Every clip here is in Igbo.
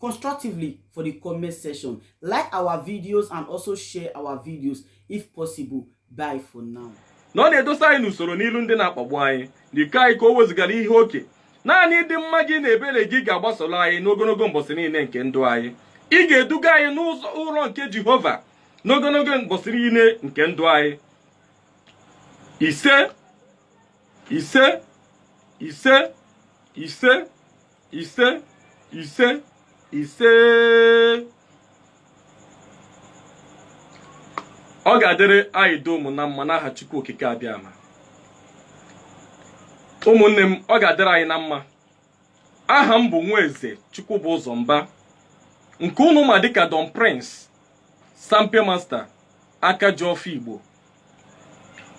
constructively for the comment section. Like our videos and also share our videos if possible. Bye for now. na ọ na-edosa anyị n'usoro n'ilu ndị na-akpagbu anyị n'iko anyị ka o wezụgara ihe oke naanị ịdị mma gị na ebere gị ga-agbasoro anyị n'ogologo mbọsị niile nke ndụ anyị ị ga-eduga anyị n'ụzọ ụlọ nke jehova n'ogologo mbọsị niile nke ndụ anyị ise ise ise ise ise ise ise ọ ga-adịrị anyị dum na mma n'aha Chukwu okike abịama ụmụnne m ọ ga-adịrị anyị na mma aha m bụ Nweze Chukwubụzọ Mba nke unu ma dịka Don Prince Sampe Master aka ji ọfọ Igbo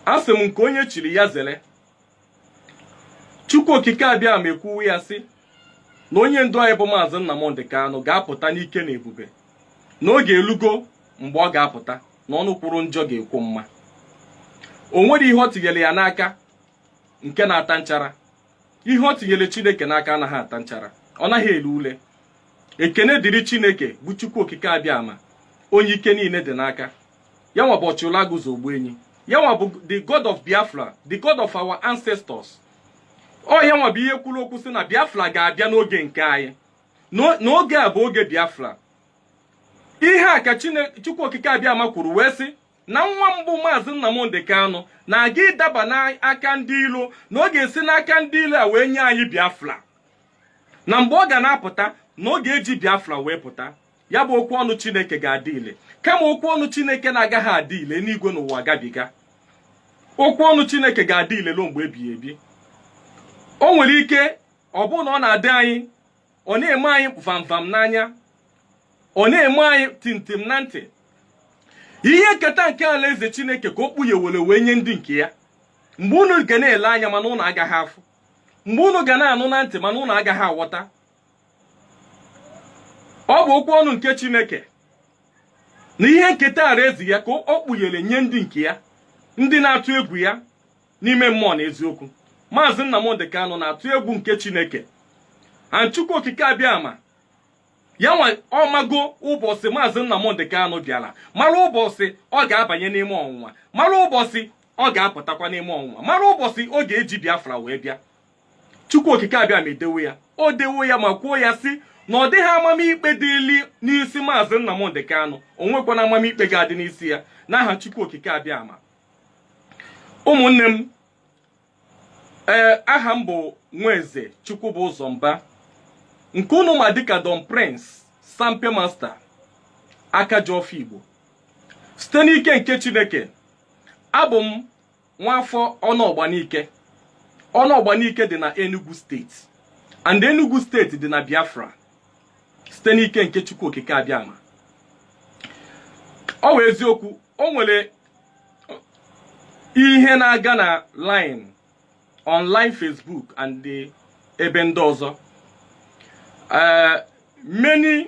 asị m nke onye chiri ya zere Chukwu Okike abịama ekwuwe ya sị na onye ndu anyị bụ Maazị Nnamdị Kanụ ga-apụta n'ike na ebube na oge elugo mgbe ọ ga-apụta na ọnụ kwuru njọ ga-ekwu mma o nwere ihe o tinyere ya n'aka nke na-ata nchara ihe o tinyere Chineke n'aka anaghị ata nchara ọ naghị ele ule ekene dịrị Chineke bụ Chukwu Okike abịama onye ike niile dị n'aka ya nwa bụ ọchịụlaguzo ogbuenyi ya nwa bụ the god of biafra the god of our ancestors ọ ya nwa bụ ihe kwuru okwu sị na biafra ga-abịa n'oge nke anyị N'o- n'oge a bụ oge biafra ihe a ka Chine- chukwu okike abịama kwuru wee sị na nwa m bụ maazị nnamdị kanụ na-aga ịdaba n'aka ndị ilo na ọ ga-esi n'aka ndị ilo a wee nye anyị biafra na mgbe ọ ga na-apụta na ọ ga-eji biafra wee pụta ya bụ okwu ọnụ chineke ga-adị ile kama okwu ọnụ chineke na-agaghị adị ile enigwe na ụwa gabiga okwu ọnụ chineke ga-adị ile ruo mgbe ebighị ebi o nwere ike ọ bụrụ na ọ na-adị anyị ọ na-eme anyị vamvam n'anya ọ na-eme anyị tintim na ntị ihe nketa nke alaeze chineke ka o kpughewere wee nye ndị nke ya mgbe unu ga na-ele anya mana unu agaghị afụ mgbe unu ga na-anụ na ntị mana unu agaghị aghọta ọ bụ okwu ọnụ nke chineke na ihe nketa alaeze ya ka o kpughere nye ndị nke ya ndị na-atụ egwu ya n'ime mmụọ na eziokwu maazị nnamdị kanụ na-atụ egwu nke chineke na chukwu okike abịama ya nwa ọ mago ụbọchị maazị nnamdị kanụ bịara mara ụbọchị ọ ga-abanye n'ime ọnwụnwa mara ụbọchị ọ ga-apụtakwa n'ime ọnwụnwa mara ụbọchị ọ ga-eji biafra wee bịa Chukwu Okike Abịama edewo ya o dewo ya ma kwuo ya sị na ọ dịghị amamikpe dịli n'isi maazị Nnamdị Kanụ o nwekwana amamikpe ga-adị n'isi ya n'aha Chukwu Okike Abịama ụmụnne m ee eh, aha m bụ Nweze Chukwu bụ ụzọ mba nke unu ma dịka Don Prince Sampe Master aka ji ọfọ Igbo site n'ike nke Chineke abụ m nwafọ Ọnụọgba Nike Ọnụọgba Nike dị na Enugu steeti and Enugu steeti dị na Biafra site n'ike nke Chukwu Okike Abịama ọ wụ eziokwu o nwere ihe na-aga na line online Facebook and ebe ndị ọzọ ee many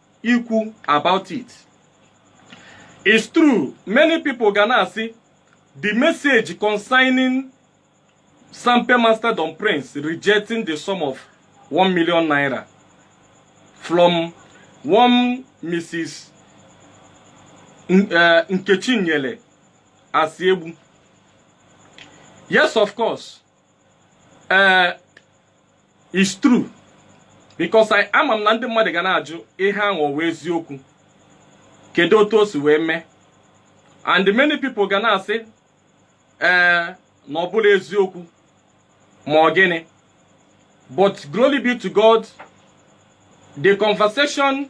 ikwu about it it's true many people ga na-asị the message concerning sampe master don prince rejecting the sum of 1 million naira from one mrs eh, nkechi nyele asiegbu yes of course ee eh, it's true because ama m na ndị mmadụ ga na-ajụ ihe ahụ ọ wụ eziokwu kedu otu o si wee mee and many people ga na-asị ee eh, na ọ bụla eziokwu ma ọ gịnị but glory be to God the conversation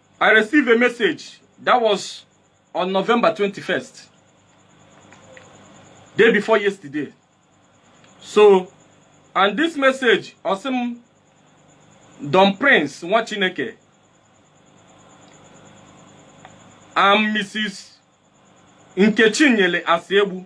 I received a message that was on November 21st, day before yesterday. So, and this message, Osim Don Prince Nwachineke, I'm Mrs. Nkechinyele Asiegbu.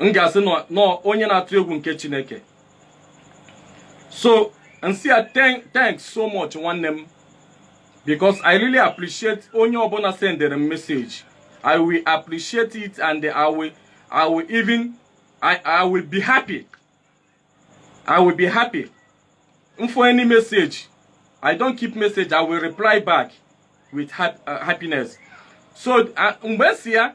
m ga-asị na ọ onye na-atụ egwu nke chineke so m sị ya thanks so much nwanne m because i really appreciate onye ọbụla sendere m message i will appreciate it and i will i will even i i will be happy i will be happy m for any message i don't keep message i will reply back with uh, happiness so uh, mgbe m sị ya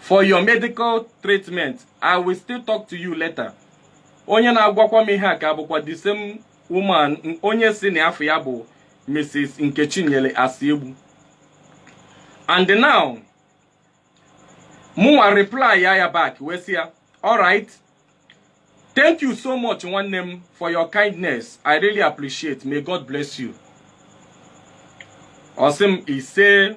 for your medical treatment i will still talk to you later onye na-agwakwa m ihe a ka bụkwa the same woman n- onye sị na afa ya bụ mrs nkechinyere asiegbu and now mụnwa reply ya ya back wee sị ya alright thank you so much nwanne m for your kindness i really appreciate may god bless you ọ sị m ise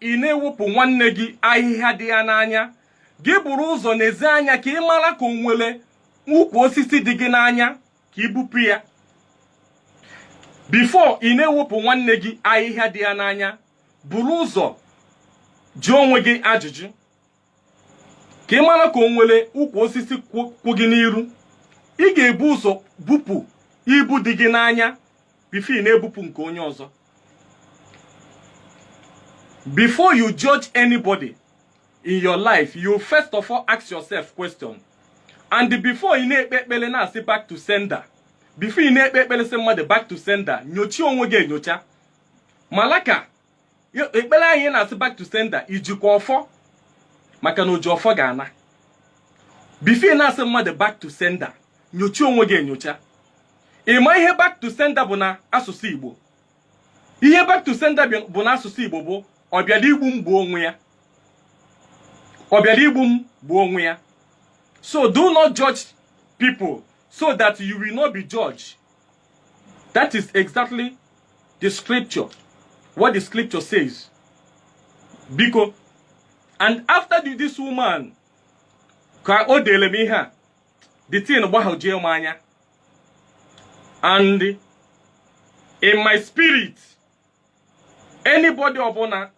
ị na-ewepụ nwanne gị ahịhịa dị ya n'anya gị buru ụzọ nezie anya ka ị mara ka o nwere ukwu osisi dị gị n'anya ka i bupụ ya before ị na-ewepụ nwanne gị ahịhịa dị ya n'anya buru ụzọ jụọ onwe gị ajụjụ ka ị mala ka o nwere ukwu osisi kwụ gị n'iru ị ga-ebu ụzọ bupụ ibu dị gị n'anya before ị na-ebupụ nke onye ọzọ before you judge anybody in your life you first of all ask yourself question and before ị na-ekpe ekpere na-asị back to sender before ị na-ekpe ekpere sị mmadụ back to sender nyochie onwe gị enyocha mala ka ekpere anyị na-asị back to sender i jikwa ọfọ maka na oji ọfọ ga-ana before ị na-asị mmadụ back to sender nyocha onwe gị enyocha ị ma ihe back to sender bụ na asụsụ Igbo ihe back to sender bụ na asụsụ Igbo bụ ọbịala igbu m gbuo onwe ya ọbịala igbu m gbuo onwe ya so do not judge people so that you will not be judged That is exactly the scripture. What the scripture says. Biko. And after the, this woman, ka o dere m ihe a, the thing gbahajie m anya. And in my spirit, anybody ọbụla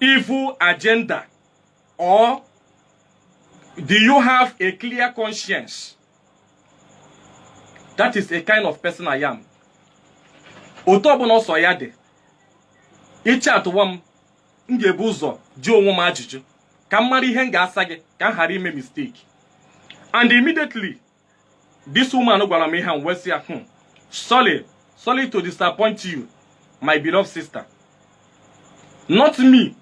evil agenda or do you have a clear conscience that is a kind of person i am otu ọbụla ọ sọ ya dị ị chatụwa m m ga-ebu ụzọ jụọ onwe m ajụjụ ka m mara ihe m ga-asa gị ka m ghara ime mistake and immediately this woman gwara m ihe a wee sị ya hmm, sorry sorry to disappoint you my beloved sister not me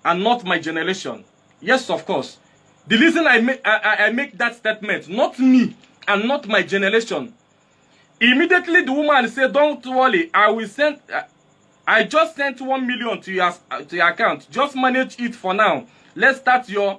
and not my generation yes of course the reason i make I, I make that statement not me and not my generation immediately the woman say don't worry i will send uh, i just sent one million to your to your account just manage it for now let's start your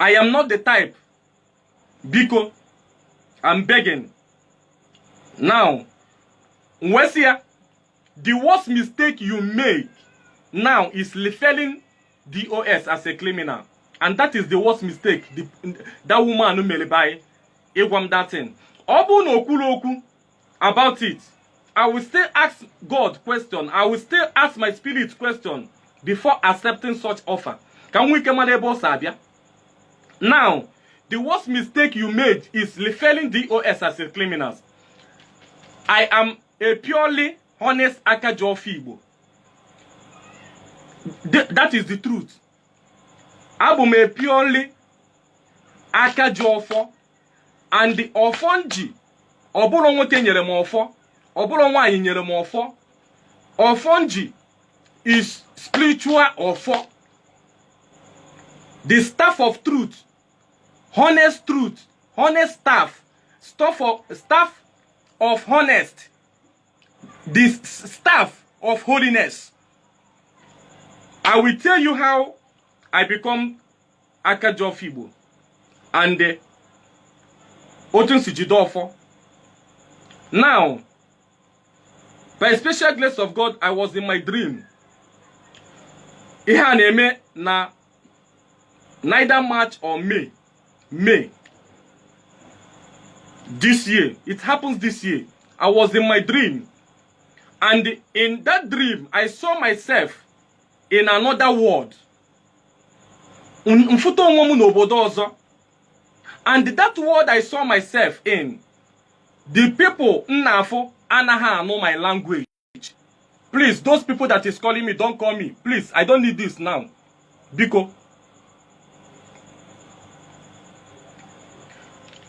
I am not the type biko I'm begging now wee sị ya the worst mistake you make now is referring DOS as a criminal and that is the worst mistake the, that woman mere bụ ịgwa m that thing ọ bụrụ na o kwuru okwu about it i will still ask god question i will still ask my spirit question before accepting such offer ka m nwee ike mara ebe ọ si abịa now the worst mistake you made is referring dos as a criminals i am a purely honest akaji ofe igbo Th- that is the truth abụ m a purely aka ji ọfọ and ọfọ m ji ọ bụrọ nwoke nyere m ọfọ ọ bụrọ nwaanyị nyere m ọfọ ọfọ m ji is spiritual ọfọ the staff of truth honest truth honest staff staff of, staff of honest the staff of holiness i will tell you how i become aka ji ọfọ igbo and eh, otu nsi jide ọfọ now by special grace of god i was in my dream ihe a na-eme na neither march or may may this year it happens this year i was in my dream and in that dream i saw myself in another world m fụta onwe m n'obodo ọzọ and that world I saw myself in the people m na-afụ anaghị anụ my language please those people that is calling me don't call me please I don't need this now biko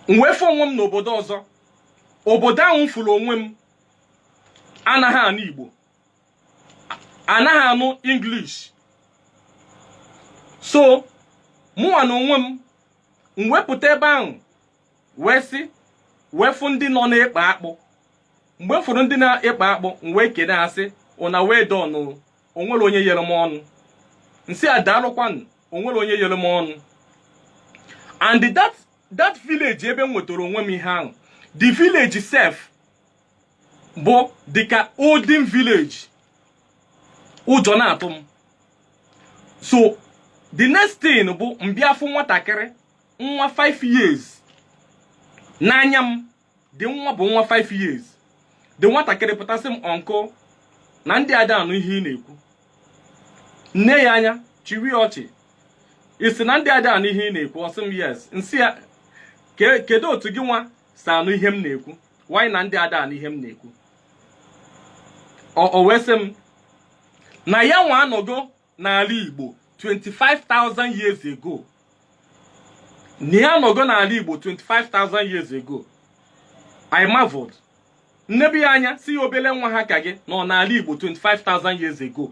m wee fụ onwe m n'obodo ọzọ obodo ahụ m fụrụ onwe m anaghị anụ Igbo anaghị anụ english so mụnwa na onwe m m wee pụta ebe ahụ wee sị wee fụ ndị nọ na-ekpe akpụ mgbe m fụrụ ndị na-ekpe akpụ m wee kene ha sị ụna well done o o nwerọ onye yere m ọnụ m sị ha daalụkwanụ o nwerọ onye yere m ọnụ and that that village ebe m nwetara onwe m ihe ahụ the village sef bụ dịka olden village ụjọ na-atụ m so the next thing bụ m bịa fụ nwatakịrị nwa 5 years n'anya m the nwa bụ nwa 5 years the nwatakịrị pụta sị m uncle na ndị a ada anụ ihe ị na-ekwu m nee ya anya chịrị ọchị ị sị na ndị a ada anụ ihe ị na-ekwu ọ sị m yes m sị ya "Ke- kedu otu gị nwa si anụ ihe m na-ekwu while na ndị a ada anụ ihe m na-ekwu o wee sị m na ya nwa anọgo n'ala Igbo 25,000 years ago na ya anọgo n'ala Igbo 25,000 years ago I marveled m nebe ya anya sị ya obele nwa ha ka gị nọ n'ala Igbo 25,000 years ago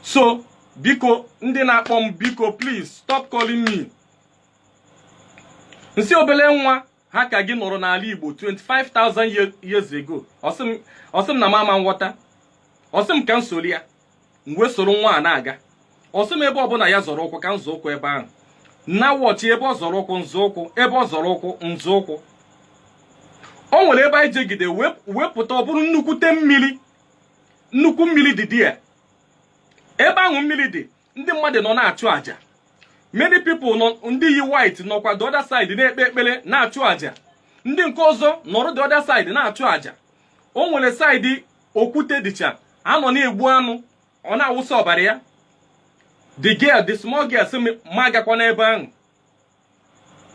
so biko ndị na-akpọ m biko please stop calling me m sị obele nwa ha ka gị nọrọ n'ala Igbo 25,000 years ago ọ sị m na m ama nghọta ọ sị m ka m soro ya m wee soro nwa a na-aga ọ sị m ebe ọbụla ya zọrọ ụkwụ ka m zọ ụkwụ ebe ahụ na-watch ebe ọ zọrọ ụkwụ m zọ ụkwụ ebe ọ zọrọ ụkwụ m zọ ụkwụ o nwere ebe anyị jegide wee pụta ọ bụrụ nnukwute mmiri nnukwu mmiri dị dị ya ebe ahụ mmiri dị ndị mmadụ nọ na-achụ àjà many people nọ ndị yi white nọkwa the other side na-ekpe ekpere na-achụ àjà ndị nke ọzọ nọrọ the other side na-achụ àjà o nwere side okwute dịcha a nọ na-egbu anụ ọ na-awụsa ọbara ya the girl the small girl sị m mụ agakwana ebe ahụ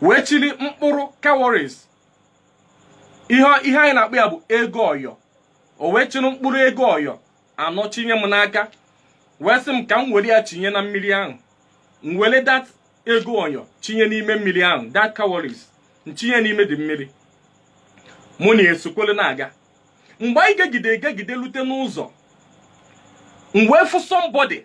wee chịrị mkpụrụ cowries ihe ihe anyị na-akpọ ya bụ ego ọyọ o wee chịrị mkpụrụ ego ọyọ anọ chinye m n'aka wee sị m ka m were ya chinye na mmiri ahụ m were that ego ọyọ chinye n'ime mmiri ahụ that cowries m chinye n'ime the mmiri mụ na ya esokwele na-aga mgbe anyị jegide ejegide lute n'ụzọ m wee fụ somebody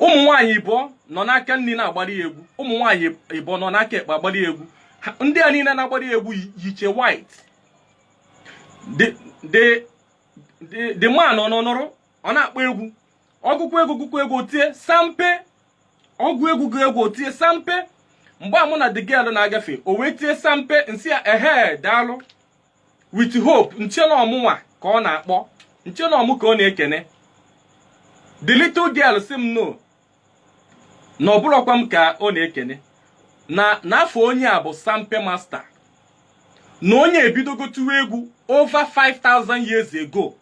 ụmụ nwaanyị ịbọ nọ n'aka nri na-agbara ya egwu ụmụ nwaanyị ịbọ nọ n'aka ekpe agbara ya egwu ndị a niile na-agbara ya egwu yicha white the man ọ nọnọrọ ọ na-akpọ egwu ọ gụọ egwu gụọ egwu o tie sampe ọ gụọ egwu gụọ egwu o tie sampe mgbe mụ na the girl na-agafe o wee tie sampe m sị ya ehe daalụ with hope m chee na ọ mụnwa ka ọ na-akpọ m chee na ọ mụ ka ọ na-ekene the little girl sị m no na ọ bụrọkwa m ka ọ na-ekene na afa onye a bụ sampe master na onye a ebidogo tụwa egwu over 5000 years ago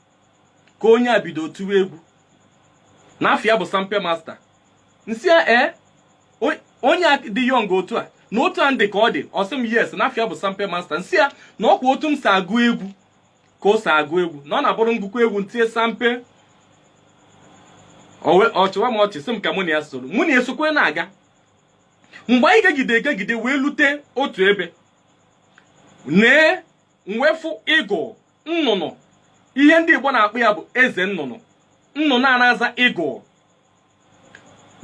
ka onye a bido tụwa egwu na afa ya bụ Sampe Master m sị ya ee onye a dị young otu a na otu a m dị ka ọ dị ọ sị m yes na afa ya bụ Sampe Master m sị ya na ọkwa otu m si agụ egwu ka o si agụ egwu na ọ na-abụrụ m gụkọ egwu m tinye sampe ọ chịwa m ọchị sị m ka mụ na ya soro mụ na ya sokwe na-aga mgbe anyị gegide egegide wee lute otu ebe nee m wee fụ eagle nnụnụ ihe ndị igbo na-akpọ ya bụ eze nnụnụ nnụnụ a na-aza eagle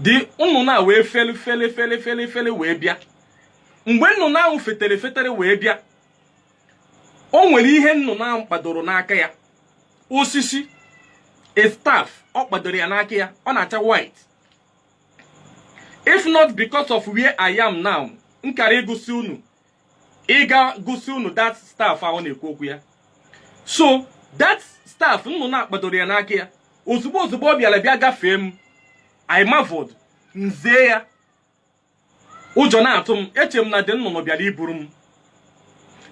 the nnụnụ a wee feli feli feli feli feli wee bịa mgbe nnụnụ ahụ fetere fetere wee bịa o nwere ihe nnụnụ ahụ kpadoro n'aka ya osisi a staff ọ kpadoro ya n'aka ya ọ na-acha white if not because of where i am now m kara igosi unu ịga gosi unu that staff ahụ na-ekwu okwu ya so that staff nnụnụ a kpadoro ya n'aka ya ozugbo ozugbo ọ bịara bịa gafee m I marveled m zee ya ụjọ na-atụ m eche m na the nnụnụ bịara iburu m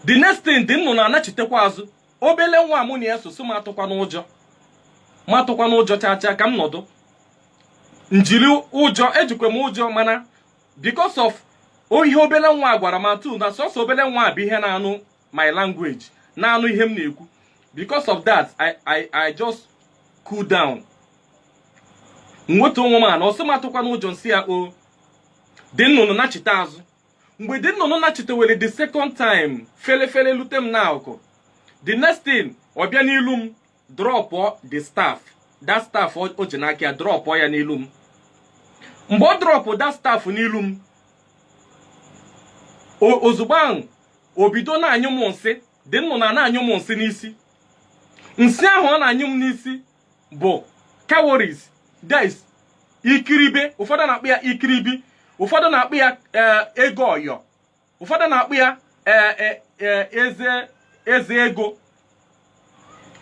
the next thing the nnụnụ a nachitekwa azụ obele nwa mụ na ya so sị m atụkwana ụjọ m atụkwana ụjọ chaa chaa ka m nọdụ m jiri ụjọ ejikwa m ụjọ mana because of o ihe obele nwa a gwara m atụ na sọsọ obele nwa a bụ ihe na-anụ my language na-anụ ihe m na-ekwu because of that I, I, I just cool down nweta onwe m na ọ sị m atụkwana ụjọ m sị ya o the nnụnụ nachite azụ mgbe the nnụnụ nachitewere the second time fele fele lute m n'akụkụ the next thing ọ bịa n'ilu m drọpụọ the staff that staff o o ji n'aka ya drọpụọ ya n'ilu m mgbe ọ drọpụ that staff n'ilu m o- ozugbo ahụ o bido na-anyụ m nsị the nnụnụ a na-anyụ m nsị n'isi nsị ahụ ọ na-anyụ m n'isi bụ cowries that's ikiribi ụfọdụ na-akpọ ya ikiribi ụfọdụ na-akpọ ya eh, ego ayọ ụfọdụ na-akpọ ya e, e, e, eze eze ego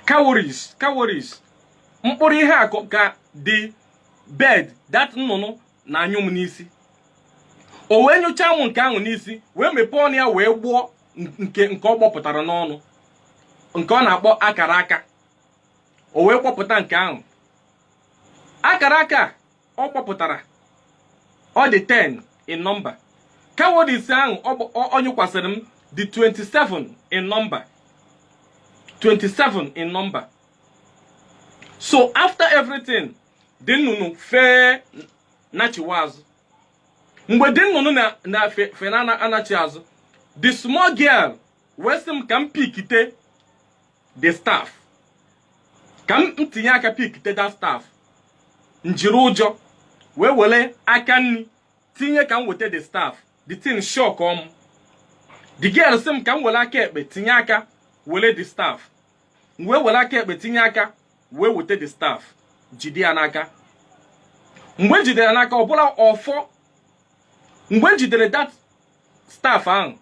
cowries cowries mkpụrụ ihe a ka- ka the bird that nnụnụ na-anyụ m n'isi o wee nyụchaa m nke ahụ n'isi wee mepee ọnụ ya wee gbọọ nke nke ọ gbọpụtara n'ọnụ nke ọ na-akpọ akara aka o wee gbọpụta nke ahụ akara aka ọ gbọpụtara ọ dị 10 in number cowries ahụ ọ gba- ọ- ọ nyụkwasịrị m dị 27 in number 27 in number so after everything the nnụnụ fee nachiwa azụ mgbe the nnụnụ na na fe- fe na-anachi azụ the small girl wee sị m ka m pikite the staff ka m tinye aka pikite that staff njiri ụjọ wee were aka nri tinye ka m weta the staff the thing shock m the girl sị m ka m were aka ekpe tinye aka were the staff m wee were aka ekpe tinye aka wee weta the staff jide ya n'aka mgbe m jidere ya n'aka ọ bụrụ ọfọ mgbe m jidere that staff ahụ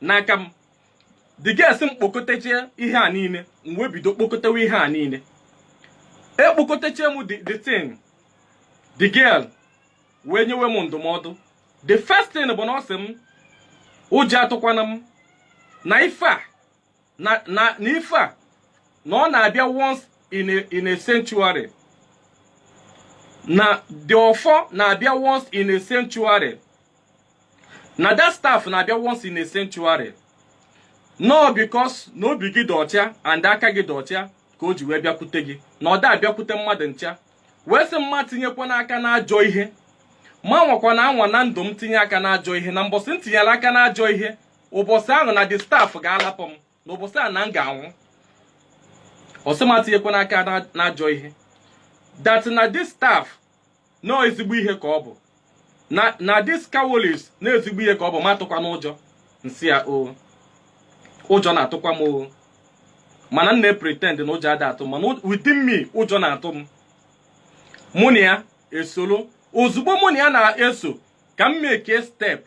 n'aka m the girl sị m kpokọtachaa ihe a niile m wee bido kpokọtawa ihe a niile ekpokọtachie m the the thing the girl wee nyewe m ndụmọdụ the first thing bụ na ọ sị m ụjọ atụkwana m na ife a na na na ife a na ọ na-abịa once in a, in a century na the ọfọ na-abịa once in a century na that staff na-abịa once in a century na because na obi gị dị ọcha and aka gị dị ọcha ka o ji wee bịakwute gị na ọ da abịakwute mmadụ ncha wee sị m atinyekwana aka n'ajọ ihe m anwakwana anwa na ndụ m tinye aka n'ajọ ihe na mbọsị m tinyere aka n'ajọ ihe ụbọchị ahụ na the staff ga-alapụ m na ụbọchị ahụ na m ga-anwụ ọ sị m atinyekwana aka na- n'ajọ ihe that na this staff na ezigbo ihe ka ọ bụ na na this cowries na ezigbo ihe ka ọ bụ m atụkwana ụjọ m sị ya o ụjọ na-atụkwa m o mana m na-pretend na ụjọ ada atụ m mana within me ụjọ na-atụ m mụ na ya esoro ozugbo mụ na ya na-eso ka m make step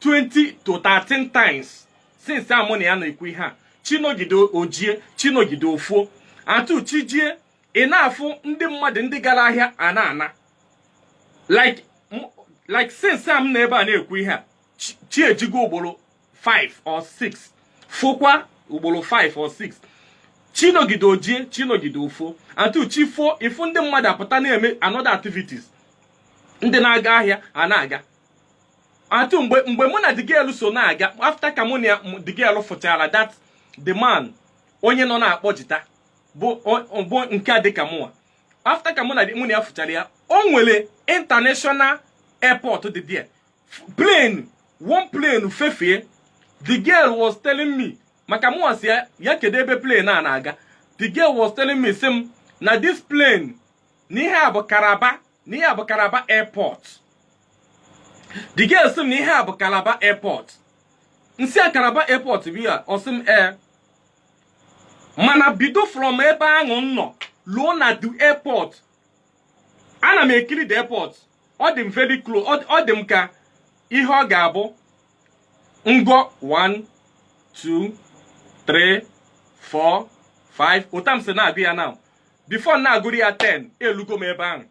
20 to 30 times since a mụ na ya na-ekwu ihe a chi nọgide o jie chi nọgide o foo atụ chi jie ị na-afụ ndị mmadụ ndị gara ahịa a na-ana like m- like since a m nọ ebe a na-ekwu ihe a chi- chi ejigo ugboro 5 or 6 fokwa ugboro 5 or 6 chi nọgide o jie chi nọgide o foo atụ chi foo ị fụ ndị mmadụ apụta na-eme another activities ndị na-aga ahịa a na-aga atụ mgbe mgbe mụ na the girl so na-aga after ka mụ na ya- m- the girl fụchara that the man onye nọ na-akpọ jita bụ o- bụ nke a dịka mụnwa after ka mụ na the- mụ na ya fụchara ya o nwere international airport dị there plane one plane fefee the girl was telling me maka mụnwa sị ya kedu ebe plane a na-aga the girl was telling me sị m na this plane n'ihe a bụ Calabar n'ihe a bụ Calabar airport the girl sị m na ihe a bụ Calabar airport m sị ya Calabar airport bụ ya ọ sị m ee mana bido from ebe ahụ m nọ luo na the airport ana m ekiri the airport ọ dị m very close ọ ọ dị m ka ihe ọ ga-abụ m gụọ 1 2 3 4 5 otu a m si na-agụ ya na before na-agụru ya 10 elugo m ebe ahụ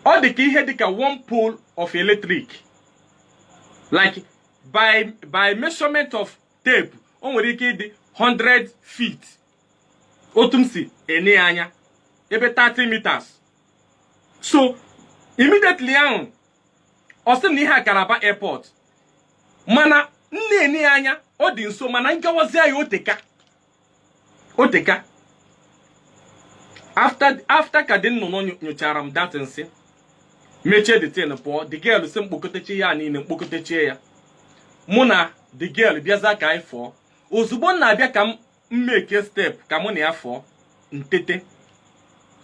ọ dị ka ihe dịka one pole of electric like by by measurement of tape o nwere ike ịdị 100 feet otu m si ene ya anya ebe 30 meters so immediately ahụ ọ sị na ihe a Calabar airport mana m na-ene ya anya ọ dị nso mana nkewazi ya o teka o teka after after ka the nnụnụ nyo- nyochara m that nsị mechie the thing pụọ the girl sị m kpokọtechie ya niile m kpokọtechie ya mụ na the girl bịaza ka anyị fụọ ozugbo m na-abịa ka m make step ka mụ na ya fụọ m tete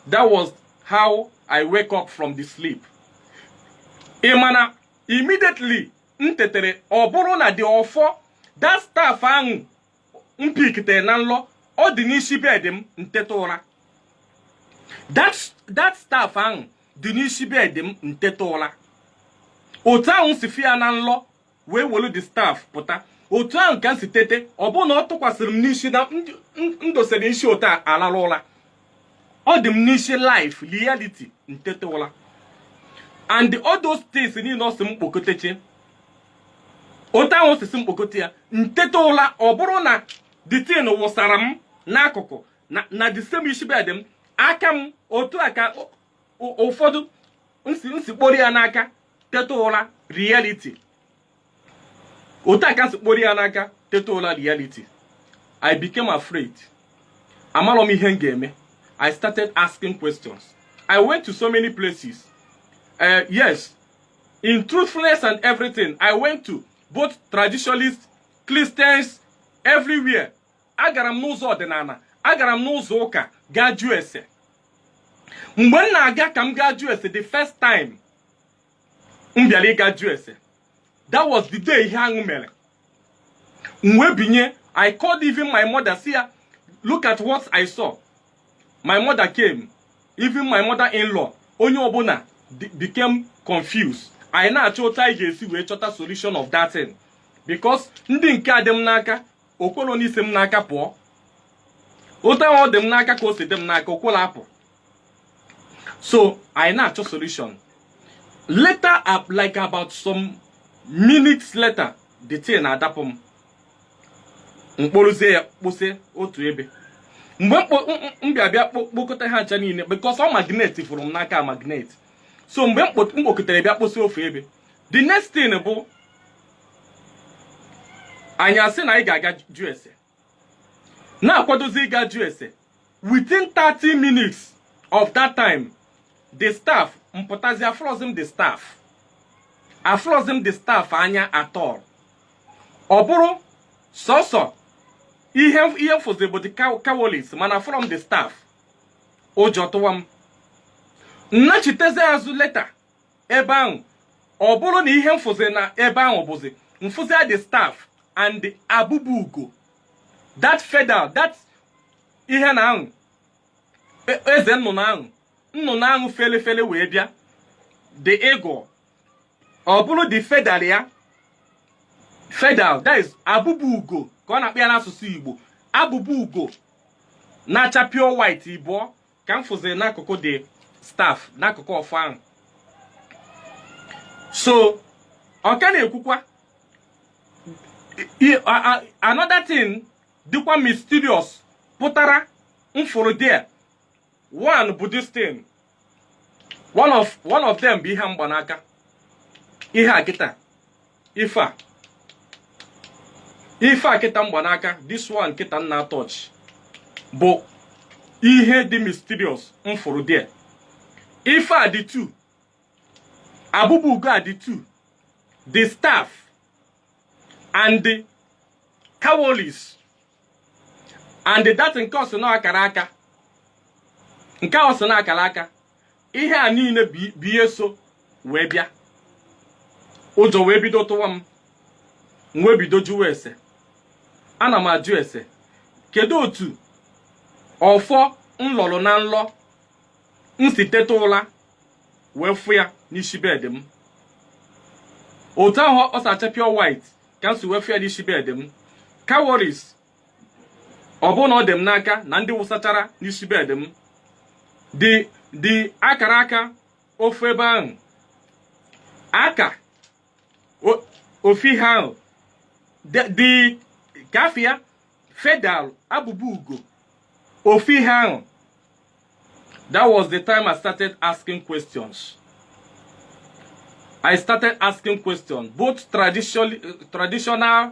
that was how i wake up from the sleep ị ma na immediately m tetere ọ bụrụ na the ọfọ that staff ahụ m pikitere na nlọ ọ dị n'isi bed m m teta ụla that that staff ahụ dị n'isi bed m m teta ụla otu ahụ m si fụ ya na nlọ wee welu the staff pụta otu ahụ ka m si tete ọ bụrụ na ọ tụkwasịrị m n'isi na m dosere isi otu a alarụ ụla ọ dị m n'isi life reality m teta ụla and all those things niile ọ sị m kpokọtechie otu ahụ o si sị m kpokọte ya m teta ụla ọ bụrụ na the thing wụsara m n'akụkụ na na the same isi bed m aka m otu a ka ụ- ụ- ụfọdụ m si m si kporo ya n'aka teta ụla reality otu a ka m si kporo ya n'aka teta ụla reality i became afraid amarọ m ihe m ga-eme i started asking questions i went to so many places uh, yes in truthfulness and everything i went to both traditionalists christians everywhere agara m n'ụzọ ọdịnala agara m n'ụzọ ụka gaa jụọ ese mgbe m na-aga ka m gaa jụọ ese the first time m bịara ịga jụọ ese that was the day ihe ahụ mere m wee binye i called even my mother sị ya look at what i saw my mother came even my mother in law onye ọbụla be- became confused anyị na-achọ otu anyị ga-esi wee chọta solution of that thing because ndị nke a dị m n'aka o kwelọ n'isi m n'aka pụọ otu ahụ ọ dị m n'aka ka o si dị m n'aka o kwelọ apụ so anyị na-achọ solution later like about some minutes later the thing na-adapụ m m kporozie ya kposi otu ebe mgbe m bịa bịa kpokọta ha ncha niile because ọ magnetiburu m n'aka magnet so mgbe m kpokọtara bịa kposi ofu ebe the next thing bụ anyị asị na anyị ga-aga jụ ese na-akwadozi ịga jụ ese within 30 minutes of that time the staff m pụtazi afụrọzi m the staff afụrọzi m the staff anya at all ọ bụrụ sọsọ ihe ihe m fụzi bụ the cow- cowries mana afụrọ m the staff ụjọ tụwa m m nachitezi azụ later ebe ahụ ọ bụrụ na ihe m fụzi na ebe ahụ bụzi m fụzia the staff and abụbụ ugo that feather that ihe na ahụ e- eze nnụnụ ahụ nnụnụ ahụ fele fele wee bịa the eagle ọ bụrụ the feather ya feather that is abụbụ ugo ka a na-akpọ ya n'asụsụ igbo abụbụ ugo na-acha pure white ịbụọ ka m fụziri n'akụkụ the staff n'akụkụ ọfọ ahụ so ọ ka na-ekwukwa i- i- a- a- another thing dịkwa mysterious pụtara m fụrụ there one bụ this thing one of one of them bụ ihe mgbanaka ihe a kịta ife a ife a kịta mgbanaka this one kịta m na-touch bụ ihe dị mysterious m fụrụ there ife a dị two abụbụ ugo a dị two the staff and the cowries and that nke ọ sị na akara aka nke ọ sị na akara aka ihe a niile bụ ihe so wee bịa ụjọ wee bido tụwa m m wee bido jụwa ese ana m ajụ ese kedu otu ọfọ m lọrọ na nlọ m si teta ụra wee fụ ya n'isi bed m otu ahụ o si acha pure white ka m si wee fụ ya n'isi bed m cowries ọ bụrụ na ọ dị m n'aka na ndị wụsachara n'isi bed m the the akara aka ofu ebe ahụ aka o- ofu ihe ahụ dị- dị ka ife a feather abụbụ ugo ofu ihe ahụ that was the time i started asking questions i started asking questions both tradition, traditional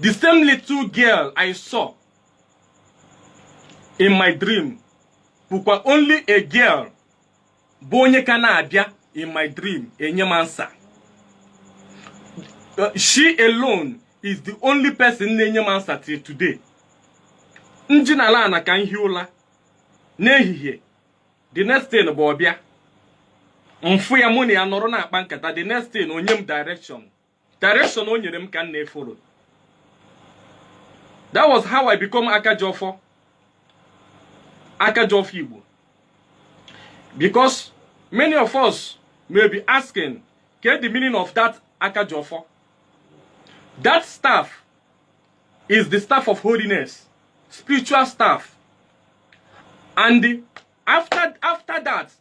the same little girl i saw in my dream bụkwa only a girl bụ onye ka na-abịa in my dream enye m ansa Uh, she alone is the only person na-enye m ansa till today m dinala ana ka m hie ụla n'ehihie the next thing bụ ọ bịa m fụ ya mụ na ya nọrọ na-akpa nkata the next thing o nye m direction direction o nyere m ka m na-efolo that was how i become akajiọfọ akajiọfọ igbo because many of us may be asking get the meaning of that akajiọfọ that staff is the staff of holiness spiritual staff and after after that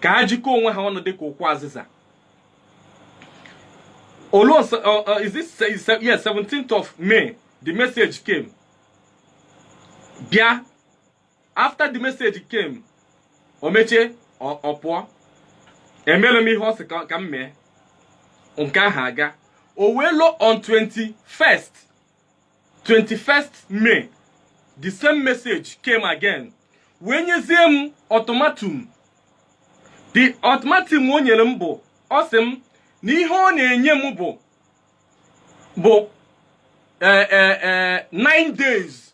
ka ha jikọọ onwe ha ọnụ dị ka ukwu azịza olu nsọ uh, uh, is this se- se- yes 17th of may the message came bịa after the message came o mechie ọ ọ pụọ emere m ihe ọ sị ka ka m mee nke ahụ agaa o wee luo on 21st 21st May the same message came again wee nyezie m ultimatum the ultimatum o nyere m bụ ọ sị m na ihe ọ na-enye m bụ bụ eh, eh, eh, nine days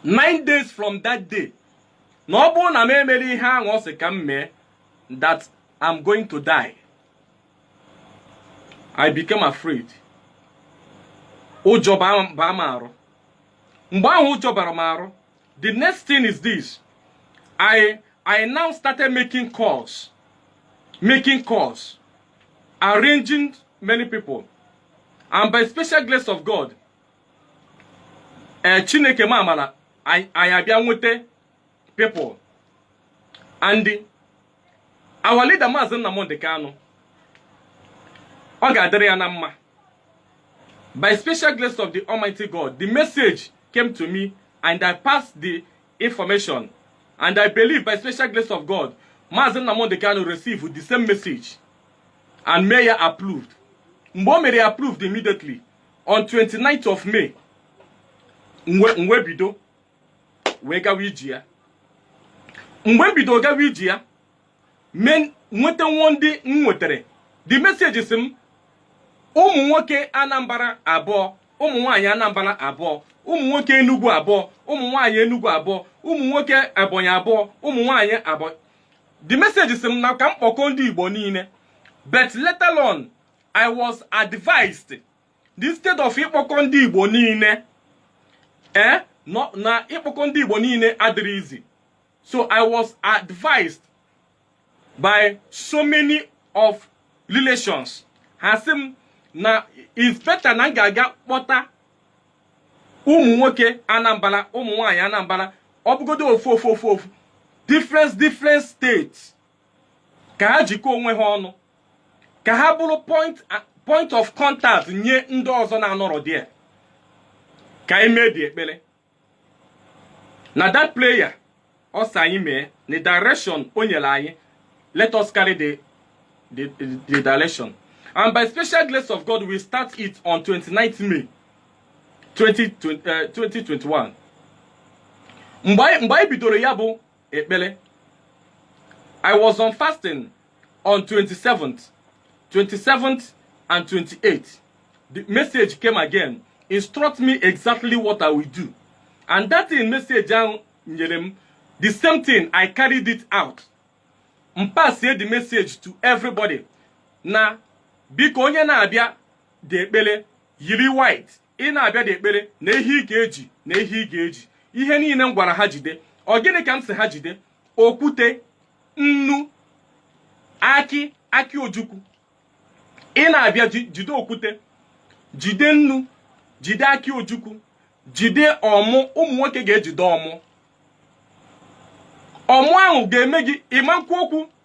nine days from that day na ọ bụrụ na m emerọ ihe ahụ ọ sị ka m mee that I'm going to die I became afraid ụjọ baa m arụ mgbe ahụ ụjọ bara m arụ the next thing is this I I now started making calls making calls arranging many people and by special grace of God ee chineke mee amara anyị anyị abịa nweta people and our leader maazị nnamdị kanụ ọ ga-adịrị ya na mma by special grace of the almighty god the message came to me and i passed the information and i believe by special grace of god maazị nnamdị kanụ received the same message and mee ya approved mgbe o mere ya approved immediately on 29th of May m wee bido wee gawa ije ya m wee bido gawa ije ya m wee nweta nwa ndị m nwetara the message sị m ụmụ nwoke Anambra abụọ ụmụ nwaanyị Anambra abụọ ụmụ nwoke Enugu abụọ ụmụ nwaanyị Enugu abụọ ụmụ nwoke Ebonyi abụọ ụmụ nwaanyị abụọ the message sị m na ka m kpọkọọ ndị Igbo niile but later on I was advised instead of ịkpọkọ ndị Igbo niile eh na ịkpọkọ ndị Igbo niile adịrọ easy so I was advised by so many of relations ha sị m na is better na m ga-aga kpọta ụmụ nwoke Anambra ụmụ nwanyị Anambra ọ bụgodo ofu ofu ofu ofu different different states ka ha jikọọ onwe ha ọnụ ka ha bụrụ point of contact nye ndị ọzọ na-anọrọ there ka anyị mee the ekpere na that prayer ọ sị anyị mee na direction o nyere anyị let us carry the the the direction and by special grace of God we start it on 29th May 2021 mgbe anyị bidoro ya bụ ekpere I was on fasting on 27th 27th and 28th the message came again instruct me exactly what I will do and that thing message ahụ nyere m the same thing I carried it out m pasie the message to everybody na biko onye na-abịa the ekpere yiri white ị na-abịa the ekpere na ihe ị ga-eji na ihe ị ga-eji ihe niile m gwara ha jide ọ gịnị ka m sị ha jide okwute nnu akị akị ojukwu ị na-abịa jide okwute jide nnu jide akị ojukwu jide ọmụ ụmụ nwoke ga-ejide ọmụ ọmụ ahụ ga-eme gị ị ma-ekwu okwu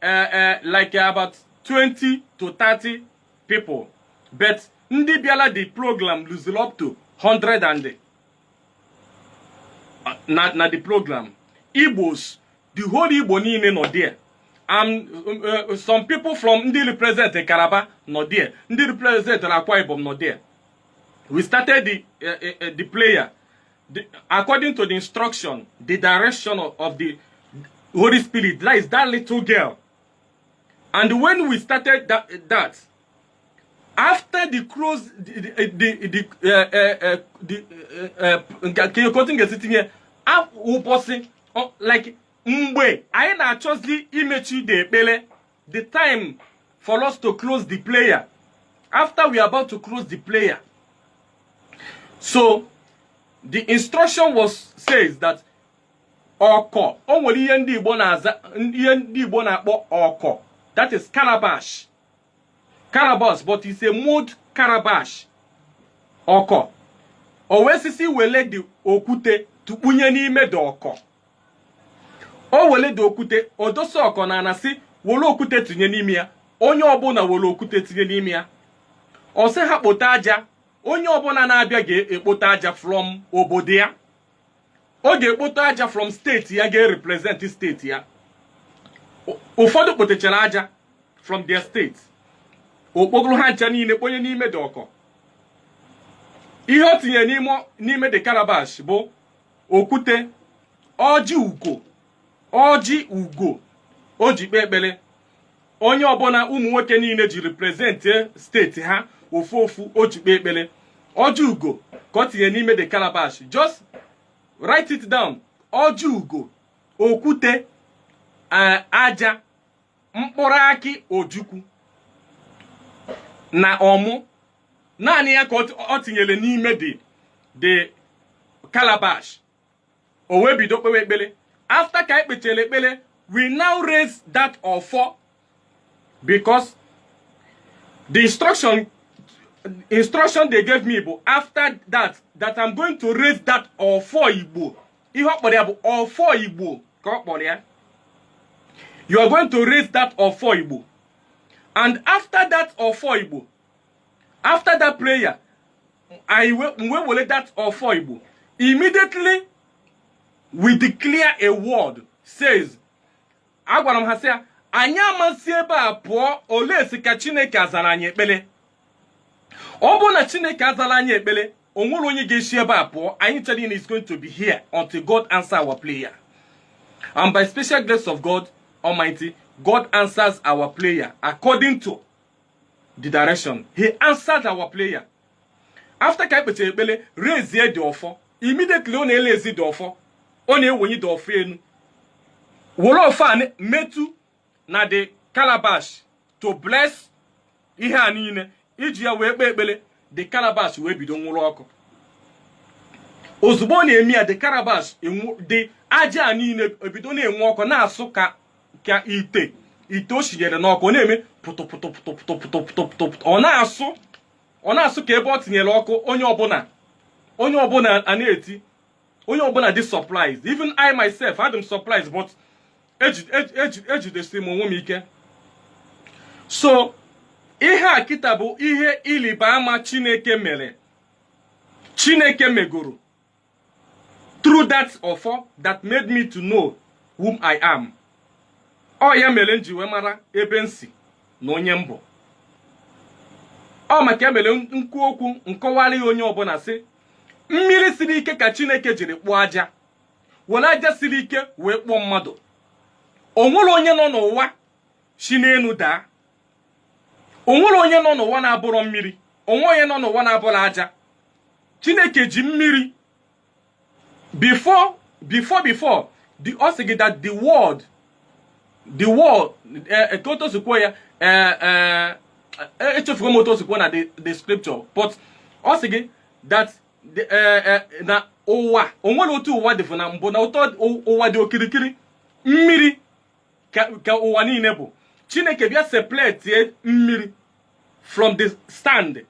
eh, eh, like about 20 to 30 people but ndị bịara the program luziri up to 100 and eh, na na the program igbos the whole igbo niile nọ there and um, uh, some people from ndị represent Calabar nọ there ndị represent Akwa Ibom nọ there we started the, uh, uh, uh, the prayer the, according to the instruction, the direction of, of the Holy Spirit, that is that little girl. And when we started that, that after the cross, the the the uh, uh, uh, the uh, uh, can you continue sitting here? Ụbọchị like mgbe anyị na-achọzi imechi ide ekpere the time for us to close the prayer after we are about to close the prayer so the instruction was says that ọkụ o nwere ihe ndị igbo na-aza ihe ndị igbo na-akpọ ọkụ that is calabash calabash but it's a mud calabash ọkụ o wee sị sị wele the okwute tụkpunye n'ime the ọkụ o were the okwute o dosa ọkụ na ana sị were okwute tinye n'ime ya onye ọbụla were okwute tinye n'ime ya ọ sị ha kpote aja onye ọbụla na-abịa ga-ekpote aja from obodo ya ọ ga-ekpote aja from steeti ya ga-erepresent steeti ya ụfọdụ kpotechara aja from their steeti o kpokọrọ ha ncha niile kponye n'ime the ọkụ ihe o tinyere n'ime the calabash bụ okwute ọjị ugo ọjị ugo o ji kpee ekpere onye ọbụla ụmụ nwoke niile ji represent steeti ha ofu ofu o ji kpee ekpere ọjị ugo ka o tinye n'ime the calabash just write it down ọjị ugo okwute eh, aja mkpụrụ akị ojukwu na ọmụ naanị ya ka o tinyere n'ime the the calabash o wee bido kpewe ekpere after ka e kpechara ekpere we now raise that ọfọ because the instruction instruction they gave me bụ after that that I'm going to raise that ọfọ Igbo ihe ọ kpọrọ ya bụ ọfọ igbo ka ọ kpọrọ ya you are going to raise that ọfọ igbo and after that ọfọ igbo after that prayer anyị wee were that ọfọ igbo immediately we declare a word says agwara m ha sị ya anyị ama si ebe a pụọ unless ka chineke azara anyị ekpere ọ bụrụ na chineke azarọ anyị ekpere o nwerọ onye ga-esi ebe a pụọ anyị cha niile is going to be here until god answer our prayer and by special grace of god almighty god answers our prayer according to the direction he answered our prayer after ka e kpechara ekpere raise the ọfọ immediately ọ na-eraise the ọfọ ọ na-ewenye the ọfọ enu were ọfọ a metụ na the calabash to bless ihe a niile e ji ya wee kpee ekpere the calabash wee bido nwuru ọkụ ozugbo ọ na-eme ya the calabash the aja a niile ebido na-enwu ọkụ na-asụ ka ka ite ite o shinyere n'ọkụ ọ na-eme pụtụpụtụpụtụpụtụpụtụpụtụ ọ na-asụ ọ na-asụ ka ebe e tinyere ọkụ onye ọbụla onye ọbụla ana-eti onye ọbụla dị surprised even I myself adị m surprised but eji- eji- eji- ejidesiri m onwe m ike so ihe a kịta bụ ihe ịrịba ama Chineke mere Chineke megoro through that ọfọ that made me to know whom I am ọ ya mere m ji wee mara ebe m si na onye m bụ ọ maka ya mere m kwuo okwu m kọwara ya onye ọbụla sị mmiri siri ike ka chineke jiri kpụọ aja were aja siri ike wee kpụọ mmadụ o nwere onye nọ n'ụwa si n'elu daa o nwere onye nọ n'ụwa na-abụrọ mmiri o nwere onye nọ n'ụwa na-abụrọ aja chineke ji mmiri before before before the ọ sị gị that the world the world ka otu o si kwuo ya echefugo m otu o si kwuo na the scripture but ọ sị gị that na ụwa o nwere otu ụwa dịbu na mbụ na otu ụwa dị okirikiri mmiri ka ka ụwa niile bụ chineke bịa separate mmiri from the sand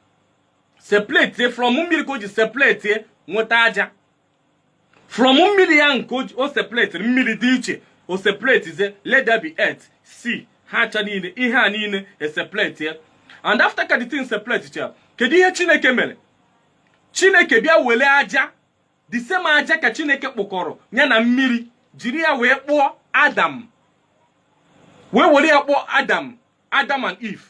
separate from mmiri ka o ji separate nweta aja from mmiri ya nke o ji- o separatiri mmiri dị iche o separatezie let there be earth sea ha ncha niile ihe a niile eseparate and after ka the thing separatecha kedu ihe chineke mere chineke bịa were aja the same aja ka chineke kpụkọrọ ya na mmiri jiri ya wee kpụọ adam wee were ya kpụọ adam adam and eve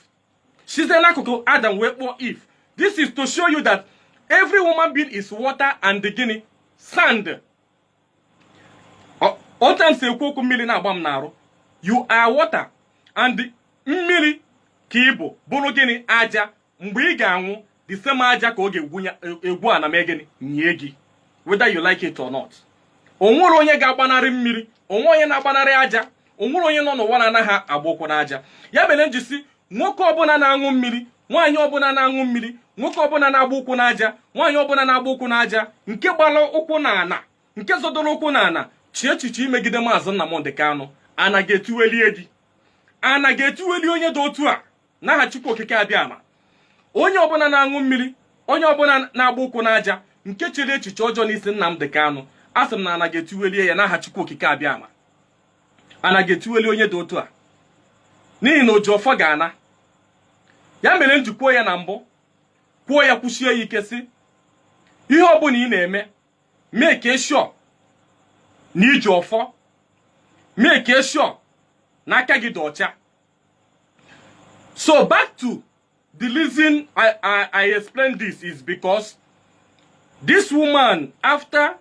site n'akụkụ adam wee kpụọ eve this is to show you that every human being is water and gịnị sand otu m si ekwu okwu mmiri na-agba m n'arụ you are water and mmiri ka ị bụ bụrụ gịnị aja mgbe ị ga-anwụ the same aja ka ọ ga-egwu ana mee gịnị nie gị whether you like it or not o nwere onye ga-agbanarị mmiri o nwere onye na-agbanarị aja o nwere onye nọ n'ụwa na-anaghị agba ụkwụ n'aja ya mere m ji sị nwoke ọbụla na-aṅụ mmiri nwaanyị ọbụla na-aṅụ mmiri nwoke ọbụla na-agba ụkwụ n'aja nwaanyị ọbụla na-agba ụkwụ n'aja nke gbara ụkwụ n'ana nke zọdoro ụkwụ n'ana chee echiche imegide maazị Nnamdị Kanụ ana ga-etiwe lie gị ana ga-etiwe lie onye dị otu a n'aha Chukwu Okike Abịama onye ọbụla na-aṅụ mmiri onye ọbụla na-agba ụkwụ n'aja nke chere echiche ọjọọ n'isi Nnamdi Kanu asị m na ana ga-etiwe lie ya n'aha Chukwu Okike Abịama ana ga-etiwe lie onye dị otu a n'ihi na oji ọfọ ga-ana ya mere m ji kwuo ya na mbụ kwuo ya kwusie ya ike sị ihe ọbụla ị na-eme make sure na i ji ọfọ make sure na aka gị dị ọcha so back to the reason I, I, I explain this is because this woman after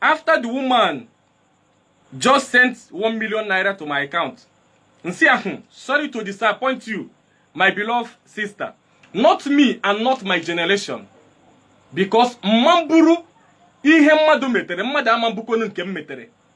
after the woman just sent one million naira to my account nsi ahụ hmm, sorry to disappoint you my beloved sister not me and not my generation because mma ihe mmadụ metere mmadụ ama mbụkonu nke m metere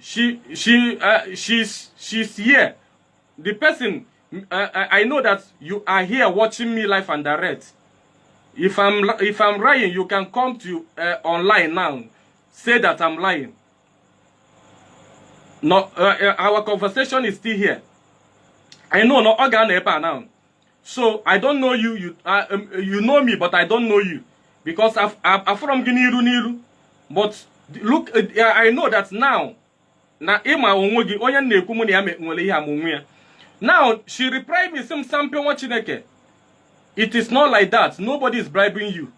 she she uh, she's she's here the person uh, uh, i know that you are here watching me live and direct if i'm if i'm lying you can come to uh, online now say that i'm lying no uh, uh, our conversation is still here i know no ọ ga-anọ ebe a now so i don't know you you, uh, um, you know me but i don't know you because afụrọ m gị n'iru n'iru but look uh, uh, i know that now na ị ma onwe gị onye na-ekwu mụ na ya nwere ihe ama onwe ya now she replied me sị m sampe nwa chineke it is not like that nobody is bribing you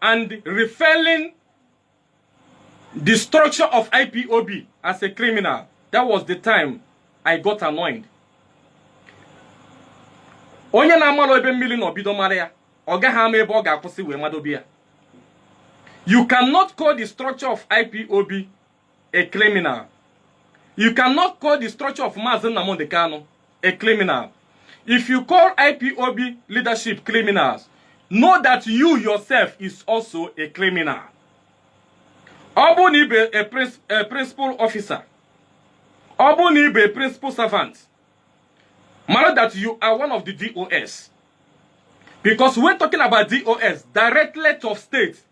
and referring the structure of IPOB as a criminal. That was the time I got annoyed. onye na-amalọ ebe mmili nọ bido mara ya ọ gaghị ama ebe ọ ga-akwụsị wee madobe ya you cannot call the structure of ipob a criminal you cannot call the structure of Mazi Nnamdi Kanu a criminal if you call IPOB leadership criminals know that you yourself is also a criminal ọ bụrụ na ị bụ a princ- a principal officer ọ bụrụ na ị bụ a principal servant mara that you are one of the DOS because when talking about DOS directorate of state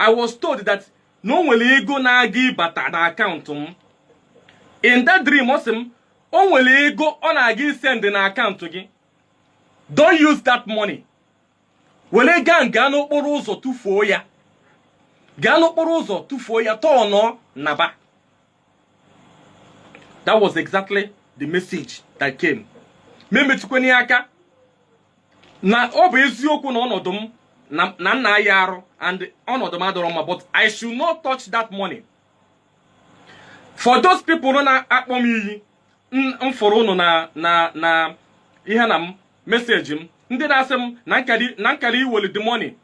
I was told that na o nwere ego na-aga ịbata na akaụntụ m in that dream ọ sị m o nwere ego ọ na-aga isend na akaụntụ gị don't use that money were gaa gaa n'okporo ụzọ tụfuo ya gaa n'okporo ụzọ tụfuo ya tọọnụọ naba that was exactly the message that came m emetụkwana ya aka na ọ bụ eziokwu na ọnọdụ m na m na-aya arụ and ọnọdụ m adịrọ mma but i should not touch that money for those people nọ na-akpọ m iyi m m fụrụ ụnụ na na na ihe na m message m ndị na-asị m na m kara na m kara iweli the money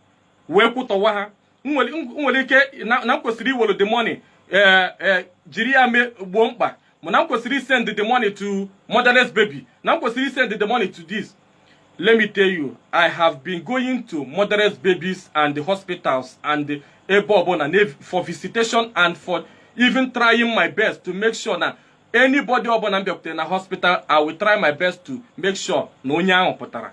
wee kwụtọwa ha nwere ike na m kwesịrị iwere the money eh, eh, jiri ya mee gboo mkpa m na m kwesịrị isend the money to motherless baby na m kwesịrị isend the money to this let me tell you i have been going to motherless babies and the hospitals and the ebe ọbụla for visitation and for even trying my best to make sure na anybody ọbụla m bịakwutere na hospital i will try my best to make sure na onye ahụ pụtara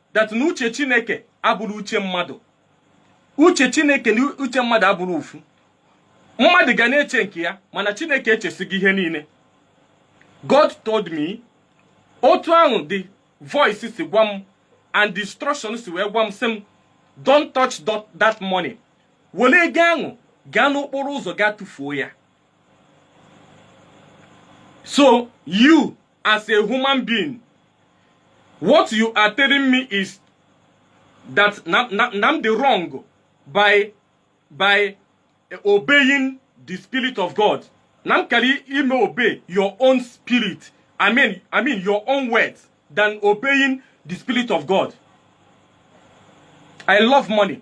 that na uche chineke abụrọ uche mmadụ uche chineke na uche mmadụ abụrọ ofu mmadụ ga na-eche nke ya mana chineke echesigo ihe niile god told me otu ahụ the voice si gwa m and the instruction si wee gwa m sị m don't touch tho- that money were ego ahụ gaa n'okporo ụzọ gaa tụfuo ya so you as a human being what you are telling me is that na na na m dị wrong by by obeying the spirit of god na m kara ime obey your own spirit i mean i mean your own words than obeying the spirit of god i love money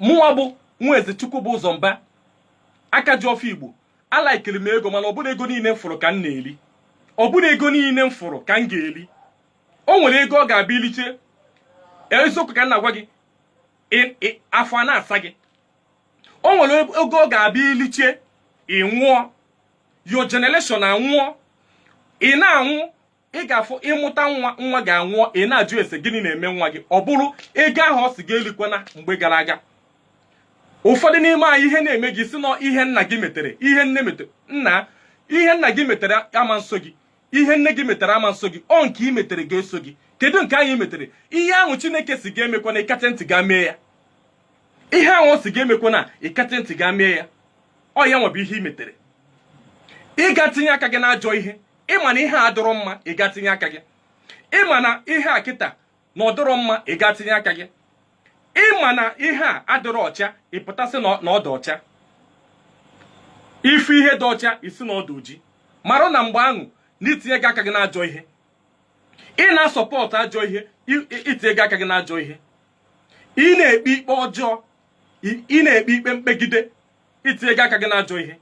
mụnwa bụ nwa eze chukwu bụ ụzọ mba aka ji ọfọ igbo alikeri m ego mana ọ bụrọ ego niile m fụrụ ka m na-eli ọ bụrọ ego niile m fụrụ ka m ga-eli o nwere ego ọ ga-abụ i lichaa eziokwu ka m na-agwa gị ị- ị- afọ a na-asa gị o nwere ego ọ ga-abụ i lichaa ị nwụọ your generation anwụọ ị na-anwụ ị ga-afụ ị mụta nwa nwa gị anwụọ ị na-ajụ ese gịnị na-eme nwa gị ọ bụrụ ego ahụ ọ sị gị elikwana mgbe gara aga ụfọdụ n'ime anyị ihe na-eme gị si n'ihe nna gị metere ihe nne metere nna ihe nna gị metere ama eso gị ihe nne gị metere ama eso gị ọ nke ị metere ga-eso gị kedu nke anyị metere ihe ahụ chineke sị gị emekwana ị kata ntị gaa mee ya ihe ahụ ọ sị gị emekwana ị kata ntị gaa mee ya ọ yanwa bụ ihe ị metere ị gaa tinye aka gị n'ajọ ihe ị ma na ihe adịrọ mma ị gaa tinye aka gị ị ma na ihe a kịta na ọ dịrọ mma ị gaa tinye aka gị ị ma na ihe a adịrọ ọcha ị pụta sị na ọ dị ọcha ị fụ ihe dị ọcha ị sị na ọ dị oji marụ na mgbe ahụ na i tinyego aka gị n'ajọ ihe ị na-asupport ajọ ihe i tinyego aka gị n'ajọ ihe ị na-ekpe ikpe ọjọọ ị na-ekpe ikpe mkpegide i tinyego aka gị n'ajọ ihe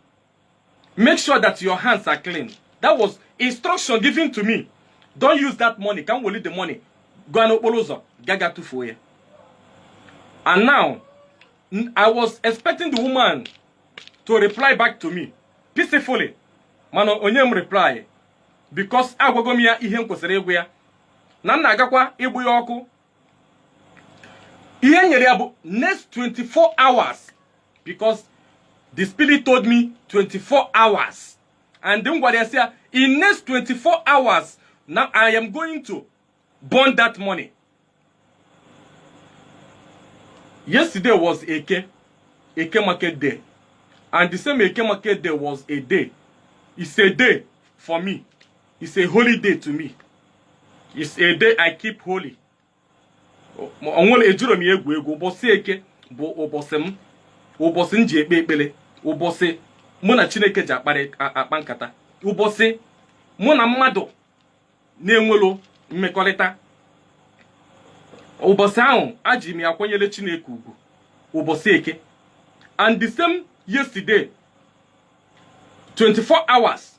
make sure that your hands are clean that was instruction given to me don't use that money ka m weli the money gaa n'okporo ụzọ gaga tụfuo ya and now n- i was expecting the woman to reply back to me peacefully mana o nye m reply because agwago m ya ihe m kwesịrị ịgwa ya na m na-agakwa ịgba ya ọkụ ihe m nyere ya bụ next 24 hours because the spirit told me 24 hours and m gwara ya sị ya in next 24 hours now i am going to burn that money yesterday was eke eke market day and the same eke market day was a day it's a day for me it's a holy day to me it's a day i keep holy o nwere ejiro m ya egwu egwu ụbọchị eke bụ ụbọchị m ụbọchị m ji ekpe ekpere ụbọchị mụ na chineke ji akparị akpa nkata ụbọchị mụ na mmadụ na-enwero mmekọrịta ụbọchị ahụ eji m ya akwanyere chineke ugwu ụbọchị eke and the same yesterday 24 hours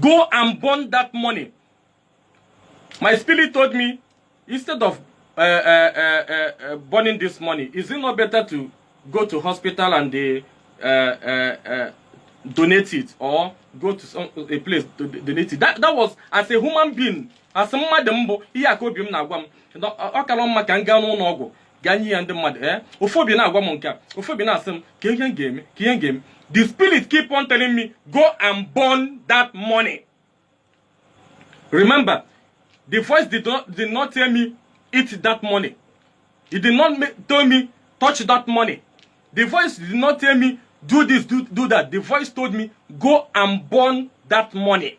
go and burn that money my spirit told me instead of uh, uh, uh, uh, burning this money is it not better to go to hospital and they uh, uh, uh, donate it or go to some, a place to donate it that, that was as a human being as mmadụ m bụ ihe a ka obi m na-agwa m ọ kara mma ka m gaa n'ụlọ ọgwụ gaa nye ya ndị mmadụ ee eh? ofu obi na-agwa m nke a ofu obi na-asị m kee ihe m ga-eme kee ihe m ga-eme the spirit keep on telling me go and burn that money remember the voice did not, did not tell me eat that money it did not tell me touch that money the voice did not tell me do this do, do that the voice told me go and burn that money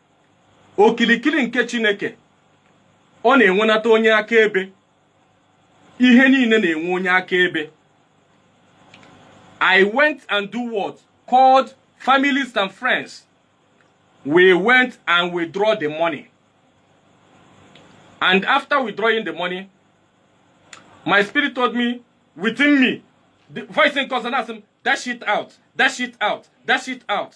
okilikili nke Chineke ọ na-enwenata onye akaebe ihe niile na-enwe onye akaebe I went and do what called families and friends we went and withdraw the money and after withdrawing the money my spirit told me within me the voice in consonant dash it out dash it out dash it out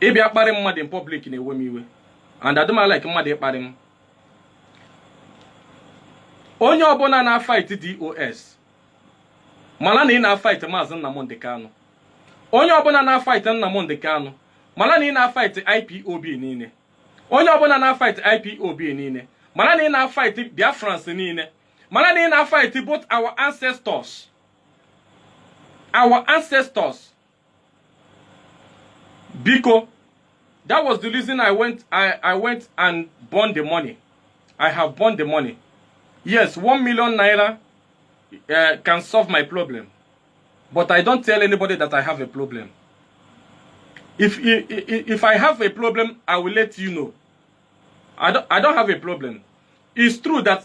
ịbịa kparị mmadụ in public na-ewe m iwe and adị m like mmadụ ịkparị m onye ọbụla na-afight DOS mara na ị na-afight maazị Nnamdị Kanụ onye ọbụla na-afight Nnamdị Kanụ mara na ị na-afight IPOB niile onye ọbụla na-afight IPOB niile mara na ị na-afight Biafrans niile mara na ị na-afight both our ancestors our ancestors biko that was the reason i went i i went and burned the money i have burned the money yes one million naira uh, can solve my problem but i don't tell anybody that i have a problem if i- i- i- if i have a problem i will let you know i don't i don't have a problem it's true that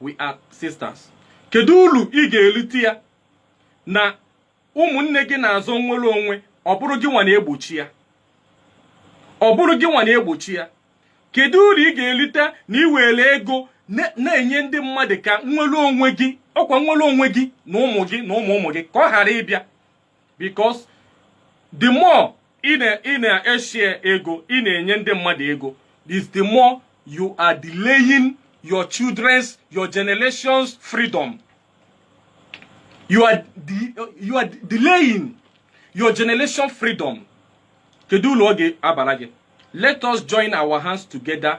we are sisters kedu uru ị ga-erite ya na ụmụnne gị na-azọ nnwere onwe ọ bụrụ gị nwa na-egbochi ya ọ bụrụ gị nwa na-egbochi ya kedu uru ị ga-erite na ị were ego na-enye ndị mmadụ ka nnwere onwe gị ọkwa nnwere onwe gị na ụmụ gị na ụmụ ụmụ gị ka ọ ghara ịbịa because the more ị na-eshare ego ị na-enye ndị mmadụ ego is the more you are delaying your children's your generation's freedom you are, de you are delaying your generation freedom kedu uru ọ ga-abara gị let us join our hands together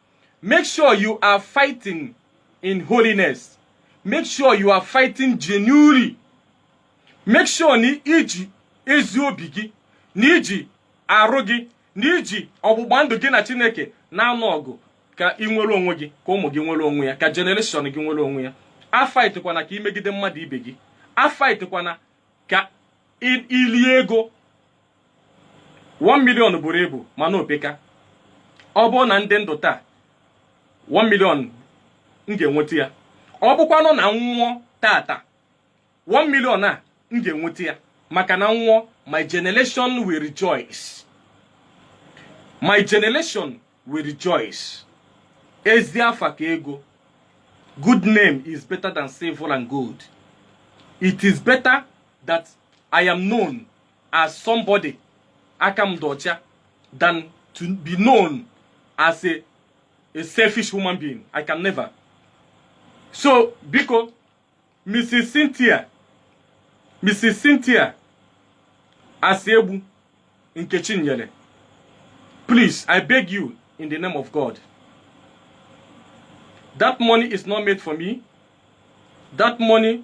make sure you are fighting in holiness make sure you are fighting genuinely make sure na iji ezi obi gị na iji arụ gị na iji ọgbụgba ndụ gị na chineke na-anụ ọgụ ka ị nwere onwe gị ka ụmụ gị nwere onwe ya ka generation gị nwere onwe ya afaitkwana ka imegide mmadụ ibe gị afaitkwana ka i- ilie ego 1 million buru ibu mana o peka ọ bụrụ na m dị ndụ taa 1 million m ga-enweta ya ọ bụkwanụ na m nwụọ tata 1 million a m ga-enweta ya maka na m nwụọ my generation will rejoice my generation will rejoice ezi afa ka ego good name is better than silver and gold it is better that i am known as somebody aka m dị ọcha than to be known as a, a selfish human being i can never so biko mrs cynthia mrs cynthia asị egbu nkechi nyere please i beg you in the name of god that money is not made for me that money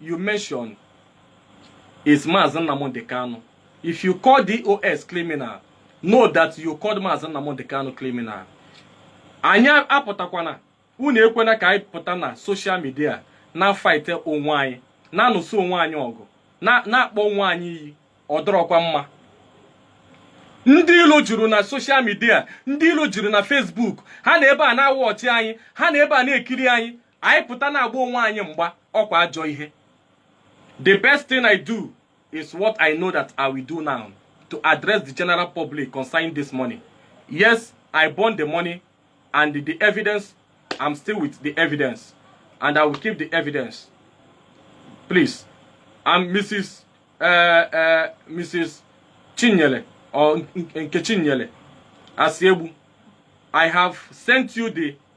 you mention is Mazi Nnamdi Kanu. If you call DOS criminal, know that you called Mazi Nnamdi Kanu criminal. Anyị apụtakwana unu ekwena ka anyị pụta na social media na faịte onwe anyị na-anụsị onwe anyị ọgụ na-akpọ onwe anyị iyi ọ dịrọkwa mma ndị ilo juru na social media ndị ilo juru na Facebook ha nọ ebe a na-awụ ọchị anyị ha nọ ebe a na-ekiri anyị anyị pụta na-agba onwe anyị mgba ọkwa ajọ ihe the best thing i do is what i know that i will do now to address the general public concerning this money yes i burn the money and the evidence i'm still with the evidence and i will keep the evidence please i'm mrs uh, uh, mrs chinyele or nkechinyele asiegbu i have sent you the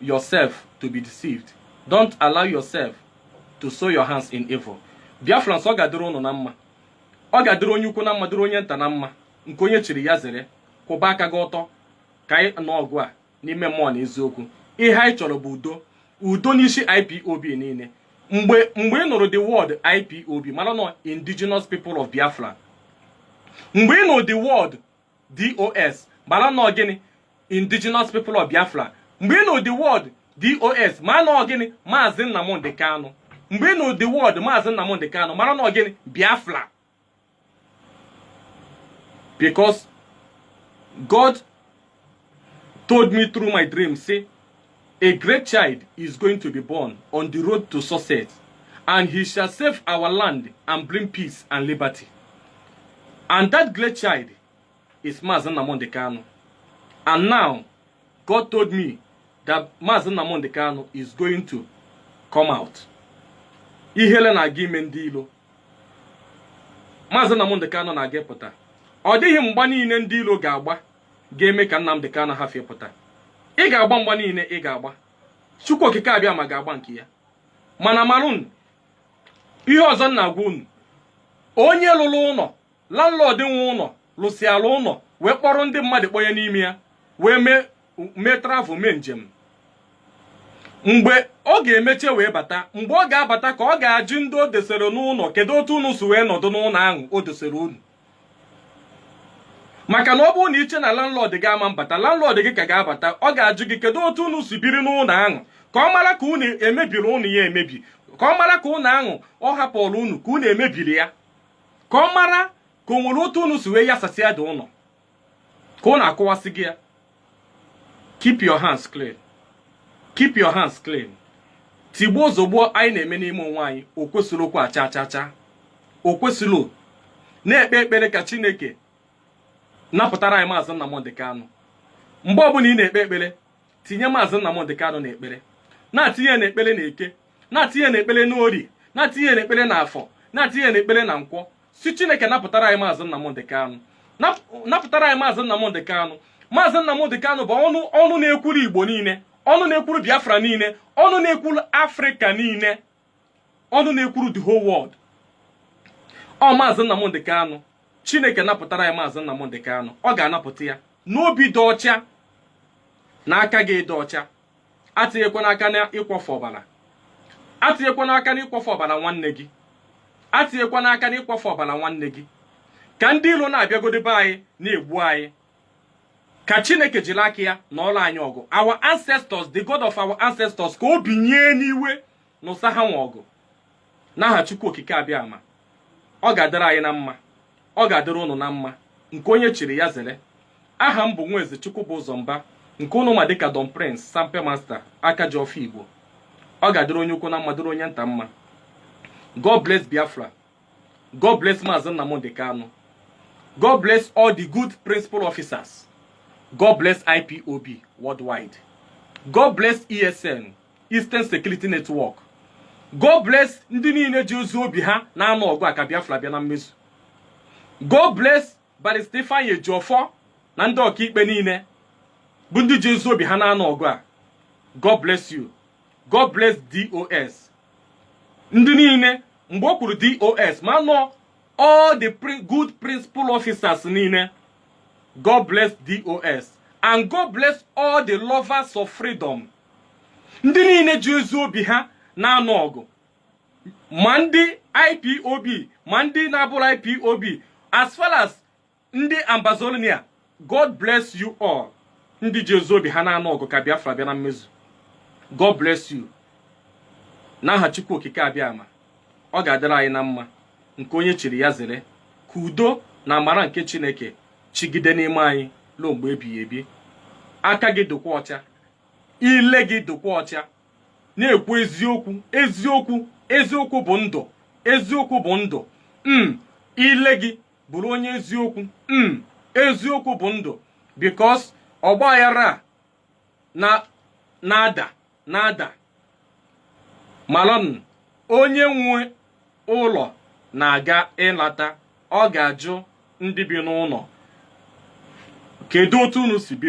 yourself to be deceived don't allow yourself to soil your hands in evil biafrans ọ ga-adịrị ụnụ na mma ọ ga-adịrị onye ukwu na mma dịrị onye nta na mma nke onye chiri ya zere kwụba aka gị ọtọ ka anyị nụọ ọgụ a n'ime mmụọ na eziokwu ihe anyị chọrọ bụ udo udo n'isi ipob niile mgbe mgbe ị nụrụ the word ipob mara na ọ indigenous people of biafra mgbe ị nụrụ the word dos mara na ọ gịnị indigenous people of biafra mgbe ị nụ the word dos mara na ọ gịnị maazị nnamdị kanụ mgbe ị nụ the word maazị nnamdị kanụ mara na ọ gịnị biafra because god told me through my dream say A great child is going to be born on the road to success, and he shall save our land and bring peace and liberty. And that great child is Mazi Nnamdi Kanu. And now, God told me that Mazi Nnamdi Kanu is going to come out. Ihele na-aga ime ndị ilo. Mazi Nnamdi Kanu na-aga apụta. Ọ dịghị mgba niile ndị ilo ga-agba ga-eme ka Nnamdị Kanu hafụ ịpụta ị ga-agba mgba niile ị ga-agba Chukwu Okike Abịama ga-agba nke ya mana maranụ ihe ọzọ m na-agwa unu onye lụrụ ụlọ landlord nwe ụlọ lụsịala ụlọ wee kpọrọ ndị mmadụ kpọnye n'ime ya wee mee travel mee njem mgbe ọ ga-emecha wee bata mgbe ọ ga-abata ka ọ ga-ajụ ndị o dosere n'ụlọ kedu otu unu si wee nọdụ n'ụlọ ahụ o dosere unu maka na ọ bụrụ na i che na landlord gị ama abata landlord gị ka ga-abata ọ ga-ajụ gị kedu otu unu si biri n'ụlọ ahụ ka ọ mara ka unu emebiri ụlọ ya emebi ka ọ mara ka ụlọ ahụ ọ hapụrụ unu ka unu emebiri ya ka ọ mara ka o nwere otu unu si wee yasasịa dị ụlọ ka unu akụwasịgo ya keep your hands clean keep your hands clean tigbuo zogbuo anyị na-eme n'ime onwe anyị o kwesịrọ okwu a cha cha cha o kwesịrọ na-ekpe ekpere ka chineke napụtara anyị maazị Nnamdị Kanụ mgbe ọbụla ị na-ekpe ekpere tinye maazị Nnamdị Kanụ na ekpere na-atinye na ekpere na eke na-atinye na ekpere na orie na-atinye na ekpere na afọ na-atinye na ekpere na nkwọ sị chineke napụtara anyị maazị nnamdị kanụ napụtara anyị maazị nnamdị kanụ maazị nnamdị kanụ bụ ọnụ na-ekwuru igbo niile ọnụ na-ekwuru biafra niile ọnụ na-ekwuru afrịka niile ọnụ na-ekwuru the whole world ọ maazị nnamdị kanụ chineke napụtara anyị maazị nnamdị kanụ ọ ga-anapụta ya n'obi dị ọcha na aka gị dị ọcha atinyekwana aka na ịkwọfu ọbara atinyekwana aka na ịkwọfu ọbara nwanne gị atinyekwana aka na ịkwọfu ọbara nwanne gị ka ndị iro na-abịagodi be anyị na-egbu anyị ka chineke jiri aka ya nụọrọ anyị ọgụ our ancestors the god of our ancestors ka o binye n'iwe nụsa ha nwa ọgụ n'aha Chukwu Okike Abịama ọ ga-adịrị anyị na mma ọ ga-adịrị unu na mma nke onye chiri ya zere aha m bụ Nwaeze Chukwubụzọ Mba nke unu ma dịka Don Prince Sampe Master aka ji ọfọ Igbo ọ ga-adịrị onye ukwu na mma dịrị onye nta mma God bless Biafra God bless Maazị Nnamdi Kanu God bless all the good principal officers God bless IPOB worldwide God bless ESN Eastern Security Network God bless ndị niile ji ezi obi ha na-anụ ọgụ a ka Biafra bịa na mmezu God bless Barrister Ifeanyi Ejiofor na ndị ọkaikpe niile bụ ndị ji ezi obi ha na-anụ ọgụ a God bless you God bless DOS ndị niile mgbe o kwuru DOS ma nọ all the pri good principal officers niile God bless DOS and God bless all the lovers of freedom ndị niile ji ezi obi ha na-anụ ọgụ ma ndị ipob ma ndị na-abụrọ ipob as far as ndị ambazonia god bless you all ndị ji ezi obi ha na-anụ ọgụ ka biafra bịa na mmezu god bless you n'aha chukwu okike abiama ọ ga-adịrị anyị na mma nke onye chiri ya zere ka udo na amara nke chineke chịgide n'ime anyị ruo mgbe ebighị ebi aka gị dịkwa ọcha ile gị dịkwa ọcha na-ekwu eziokwu eziokwu eziokwu bụ ndụ eziokwu bụ ndụ m ile gị bụrụ onye eziokwu m eziokwu bụ ndụ because ọgba aghara na-ada na-ada malụ na onye nwe ụlọ na-aga ịlata ọ ga-ajụ ndị bi n'ụlọ kedu otu unu si bi